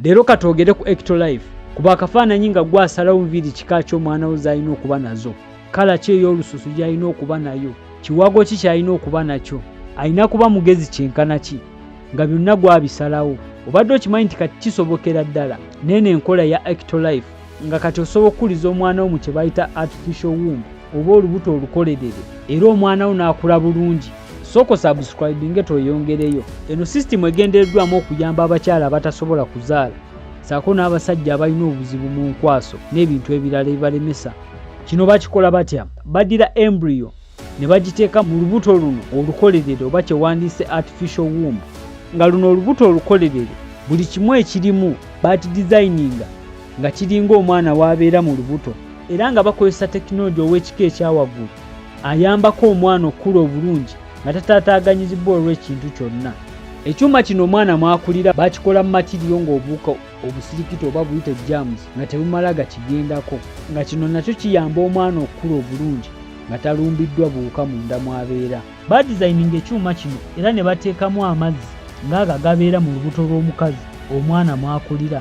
Leero katwogere ku Ectolife kuba akafaananyi nga gwe asalawo nviiri kika ki omwana wo z'alina okuba nazo, kkala ki ey'olususu gy'alina okuba nayo, kiwago ki ky'alina okuba nakyo, alina kuba mugezi kyenkana ki, nga byonna gwabisalawo. Obadde okimanyi nti kati kisobokera ddala n'eno enkola ya Ectolife nga kati osobola okukuliza omwana wo mu kye bayita artificial womb. oba olubuto olukolerere era omwana wo n'akula bulungi soko subscribinge tweyongereyo eno sisitimu egendereddwamu okuyamba abakyala abatasobola kuzaala saako n'abasajja abalina obuzibu mu nkwaso n'ebintu ebirala ebibalemesa kino bakikola batya baddira embryo ne bagiteeka mu lubuto luno olukolerere oba kyewandiise artificial womb nga luno olubuto olukolerere buli kimu ekirimu baati dizayininga nga kiringa omwana w'abeera mu lubuto era nga bakozesa tekinologi ow'ekika ekyawaggulu ayambako omwana okukula obulungi nga tataataaganyizibbwa olw'ekintu kyonna ekyuma kino omwana mwakulira bakikola mu matiriyo ng'obuuka obusirikiti oba buyite james nga tebumala gakigendako nga kino nakyo kiyamba omwana okukula obulungi nga talumbiddwa buwuka munda mwabeera badizayininga ekyuma kino era ne bateekamu amazzi ng'ago agabeera mu lubuto lw'omukazi omwana mwakulira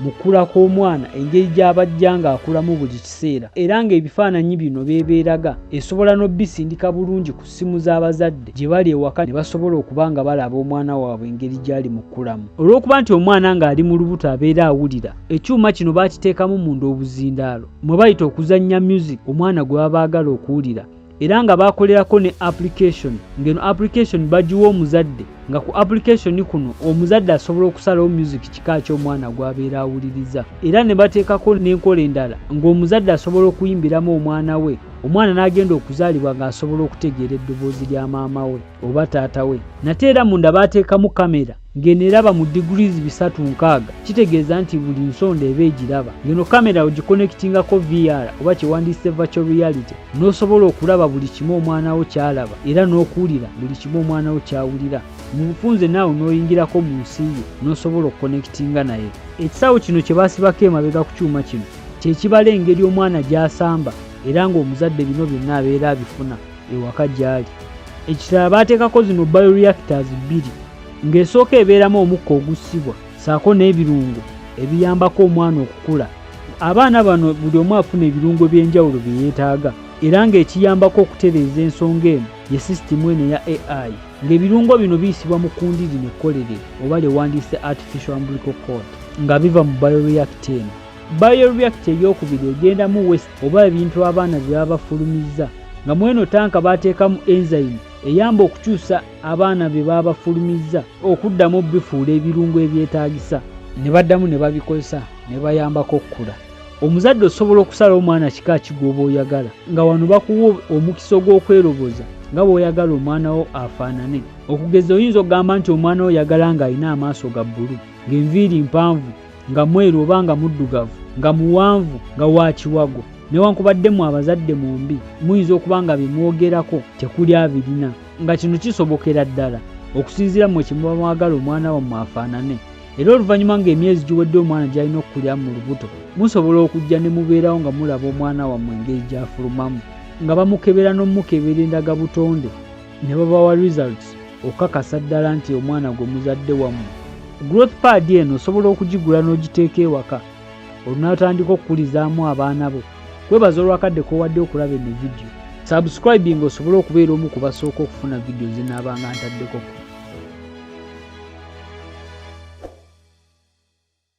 mu kkula kw'omwana engeri gy'abajja ng'akulamu buli kiseera era ng'ebifaananyi bino beebeeraga esobola n'obbisindika bulungi ku ssimu z'abazadde gye bali ewaka ne basobola okuba nga balaba omwana waabwe engeri gy'ali mu kkulamu olw'okuba nti omwana ng'ali mu lubuto abeera awulira ekyuma kino baakiteekamu munda obuzindaalo mwe bayita okuzannya myuziki omwana gwe baba baagala okuwulira era nga bakolerako ne application ngeno application bagiwa omuzadde nga ku application kuno omuzadde asobola okusalawo music kika ky'omwana gwabeera awuliriza era ne bateekako n'enkola endala ng'omuzadde asobola okuyimbiramu omwana we omwana n'agenda okuzaalibwa ng'asobola okutegeera eddoboozi lya maama we oba taata we nate era munda baateekamu kamera ngeno eraba mu degrees bisatu nkaaga kitegeeza nti buli nsonda eba egiraba ngeno kamera ogikonektingako VR oba kyewandiyise virtual reality n'osobola okulaba buli kimu omwana wo kyalaba era n'okuwulira buli kimu omwana wo kyawulira mu bufunze naawe n'oyingirako mu nsi ye n'osobola okukonektinga naye ekisawo kino kye baasibako emabega ku kyuma kino kye kibala engeri omwana gy'asamba era ng'omuzadde bino byonna abeera abifuna ewaka gy'ali ekirala baateekako zino bioreactors bbiri ng'esooka ebeeramu omukka ogussibwa saako n'ebirungo ebiyambako omwana okukula abaana bano buli omu afuna ebirungo by'enjawulo bye yeetaaga era ng'ekiyambako okutereeza ensonga eno ye sisitimu eno eya ai ng'ebirungo bino biyisibwa mu kundi lino ekkolere oba lyewandiise artificial umbilical cord nga biva mu bioreactor eno bioreactor ey'okubiri egendamu west oba ebintu abaana bye baba bafulumizza nga mweno tanka baateekamu enzyme eyamba okukyusa abaana bye baba bafulumizza okuddamu obifuula ebirungo ebyetaagisa ne baddamu ne babikozesa ne bayambako okukula omuzadde osobola okusala omwana kika kigwoba oyagala nga wano bakuwa omukisa ogw'okweroboza nga bw'oyagala omwana wo afaanane okugeza oyinza okugamba nti omwana wo oyagala ng'alina amaaso ga bbulu ng'enviiri mpanvu nga mweru oba nga muddugavu nga muwanvu nga wa kiwago newankubadde mu abazadde mwombi muyinza okuba nga bye mwogerako tekuli abirina nga kino kisobokera ddala okusinziira mwe kyemuba mwagala omwana wammwe afaanane era oluvannyuma ng'emyezi giwedde omwana gy'alina okukulira mu lubuto musobola okujja ne mubeerawo nga mulaba omwana wammwe engeri gy'afulumamu nga bamukebera n'omukebera endagabutonde ne babawa results okakasa ddala nti omwana gwe muzadde wamu growth pad eno osobola okugigula n'ogiteeka ewaka olunaatandika okukulizaamu abaana bo kwebaza olwakadde kowadde okulaba eno vidiyo subscribing osobole okubeera omu ku basooka okufuna vidiyo zinaabanga ntaddeko ku